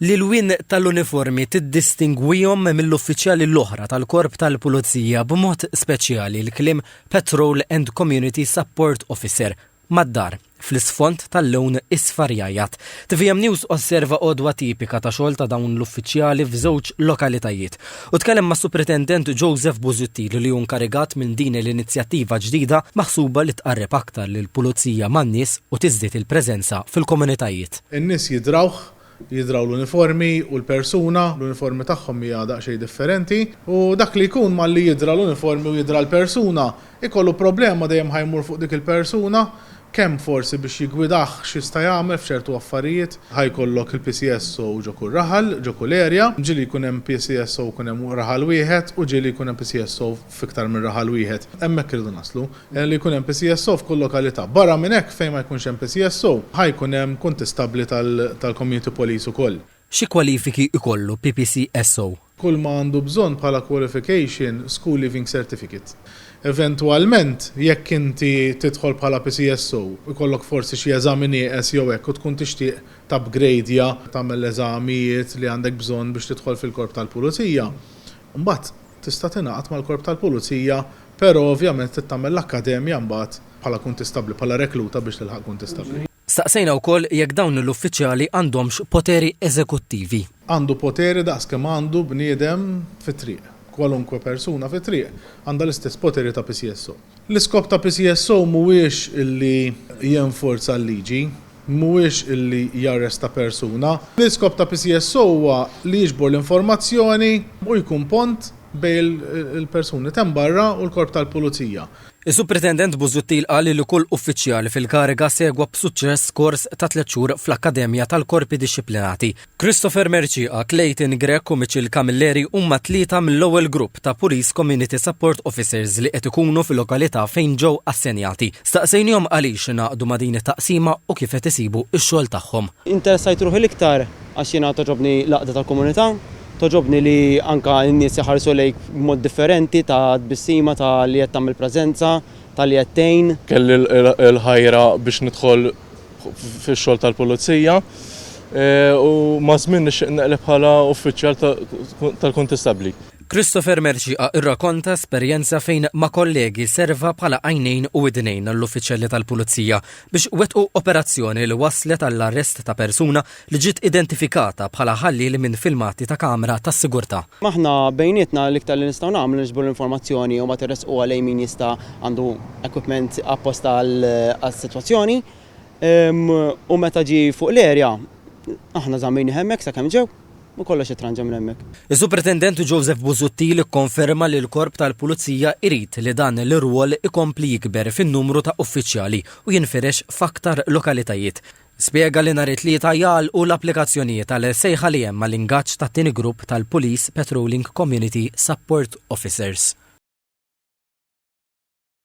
L-ilwien tal-uniformi tiddistingwihom mill-uffiċjali l-oħra tal-Korp tal-Pulizija, b'mod speċjali l-kliem Patrol and Community Support Officer, mad-dar, fl-isfond tal-lewn isfar jgħajjat. Tvm News osserva għodwa tipika ta' xogħol ta' dawn l-uffiċjali f'żewġ lokalitajiet. Hu tkellem mas-Supretendent Joseph Busuttil li hu nkarigat minn din l-inizjattiva ġdida maħsuba li tqarreb aktar lill-Pulizija man-nies u tiżdied il-preżenza fil-komunitajiet. In-nies jidrawh, jidraw l-uniformi u l-persuna, l-uniformi tagħhom hija daqsxejn differenti u dak li jkun malli jidra l-uniformi u jidra l-persuna, ikollu problema dejjem ħa jmur fuq dik il-persuna Kemm forsi biex jiggwidah x'jista' jagħmel f'ċertu affarijiet. Ħa jkollok il-PCSO ġo kull raħal, ġo kull area. Ġieli jkun hemm PCSO jkun hemm raħal wieħed u ġieli jkun hemm PCSO f'iktar minn raħal wieħed. Hemmhekk irridu naslu. Li jkun hemm PCSO f'kull lokalità. Barra minn hekk fejn ma jkunx hemm PCSO, ħa jkun hemm kuntistabbli tal-community police ukoll. Xi kwalifiki jkollu PPCSO? kull ma għandu bżonn bħala qualification school leaving certificate. Eventwalment, jekk inti tidħol bħala PCSO, ikollok forsi xi eżami nieqes jew hekk u tkun tixtieq tapgrejdja, tagħmel l-eżamijiet li għandek bżonn biex tidħol fil-Korp tal-Pulizija, mbagħad tista' tingħaqad mal-Korp tal-Pulizija, però ovvjament trid tagħmel l-akkademja mbagħad bħala kuntistabbli, bħala rekluta biex tilħaq kuntistabbli. Staqsejna wkoll jekk dawn l-uffiċjali għandhomx poteri eżekuttivi. Għandu poteri daqs kemm għandu bniedem fit-triq. Kwalunkwe persuna fit-triq għandha l-istess poteri ta' PCSO. L-iskop ta' PCSO mhuwiex li jenforza l-liġi, mhuwiex li jarresta persuna. L-iskop ta' PCSO huwa li jiġbor l-informazzjoni u jkun pont bejn il-persuni t'hemm barra u l-Korp tal-Pulizija. Is-Supretendent Busuttil qal li kull uffiċjal fil-kariga segwa b'suċċess kors ta' tliet xhur fl-Akkademja tal-Korpi Dixxiplinati. Christopher Mercieca, Clayton Grech u Mitchell Camilleri huma tlieta mill-ewwel grupp ta' Police Community Support Officers li qed ikunu fil-lokalità fejn ġew assenjati. Staqsejnihom għaliex ingħaqdu ma' din it-taqsima u kif qed isibu x-xogħol tagħhom. Interessajt ruħi l-iktar għax jiena togħġobni l-għaqda tal-komunità. Togħġobni li anke n-nies iħarsu lejk b'mod differenti ta' tbissima ta' li qed tagħmel preżenza, ta' li qed tgħin. Kelli l-ħajra biex nidħol fix-xogħol tal-Pulizija u maż-żmien nixtieq neqleb bħala uffiċjal tal-Kuntistabbli. Christopher Mercieca irrakonta esperjenza fejn ma' kollegi serva bħala għajnejn u widnejn għall-uffiċjali tal-Pulizija biex wettqu operazzjoni li wasslet għall-arrest ta' persuna li ġiet identifikata bħala ħallieli minn filmati ta' kamra tas-sigurtà. Aħna bejnietna l-iktar li nistgħu nagħmlu niġbru l-informazzjoni u mbagħad irressquha lejn min jista' għandu equipment apposta għas-sitwazzjoni u meta ġie fuq l-erja aħna żammejnih hemmhekk sakemm ġew u kollox ittranġa minn hemmhekk. Is-Superintendent Joseph Busuttil ikkonferma li l-Korp tal-Pulizija jrid li dan l-irwol ikompli jikber fin-numru ta' uffiċjali u jinfirex f'aktar lokalitajiet Spjega li nhar it-Tlieta jagħlqu l-applikazzjonijiet għal sejħa li hemm għal ingaġġ tat-tieni grupp tal-Police Patrolling Community Support Officers.